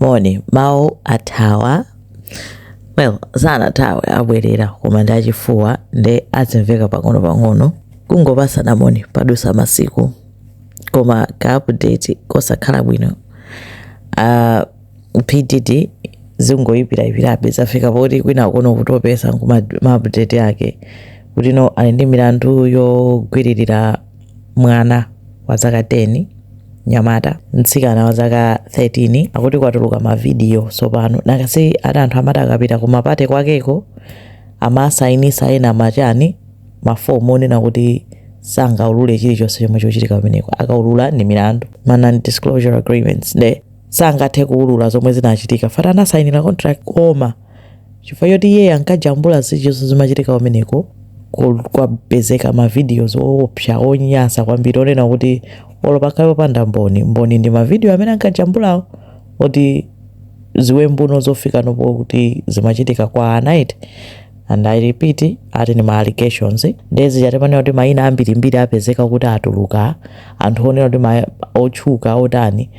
moni mawu athawa eee sanathawe abwerera koma ndi achifuwa nde azimveka pang'ono-pang'ono kungopasana moni padusa masiku koma ka update kosakhala bwino uh, P Diddy zingoyipirayipirabe zafika poti kwina kuno kutopesa ndi ma update ake kuti no ali ndi milandu yogwiririra Mwana wa zaka 10, nyamata, mtsikana wa zaka 13 akuti kwatuluka mavidiyo sopano nakhasi ati anthu amati akapita kumapate kwakeko amasainisa ena ma chani mafomu onena kuti sangaulule chilichonse chomwe chochitika kumeneko akaulula ndi milandu ma non disclosure agreements nde sangathe kuulula zomwe zinachitika chifukwa ati anasainira contract koma chifukwa choti iye ankajambula zilichonse zimachitika kumeneko ku- kwapezeka ma videos oopsa onyansa kwambiri onena kuti olo pakhale popanda mboni mboni ndi ma video amene ankajambulawo kuti ziwembu no zofika napo kuti zimachitika kwa night and i repeat ati ni ma allegations nde chikuchitika panopa nena kuti maina ambirimbiri apezeka kuti atuluka anthu onena kuti ma- otchuka otani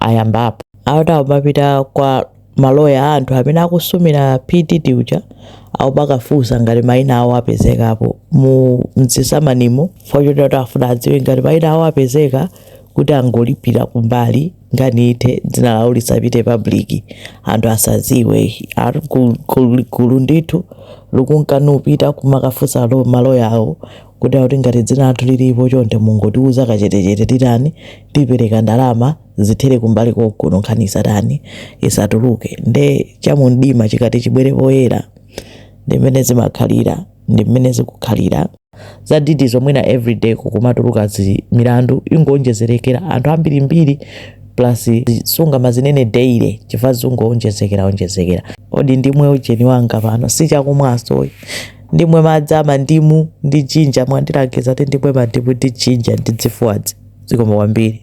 ayambapo akuti amapita kwa maloya a anthu amene akusumira P Diddy uja akumakafunsa ngati maina awo apezekapo mu mu zisamanimo chifukwa choti afuna adziwe ngati maina awo apezeka kuti angolipira kumbali nkhani ithe dzina lawo lisapite public anthu asaziwe ati gulu- gulu gulu ndithu likunka nkupita kumakafunsa lo maloya awo kuti akuti ngati dzina lathu lilipo chonde mungotiuza kachetechete titani tipereka ndalama zithere kumbali konkuno nkhani isatani isatuluke nde chamumdima chikati chibwere poyera ndi mmene zimakhalira ndi mmene zikukhalira za Diddy zomwena everyday kukumatuluka zi milandu ingoonjezerekera anthu ambirimbiri plus sungamazinene daily chifukwa zungoonjezekera onjezekera odi ndimwe ujeni wanga pano si chakumwanso ndimwe madzi a mandimu ndi jinja mwandilangiza kuti ndimwe mandimu ndi jinja ndi zifuwazi zikomo kwambiri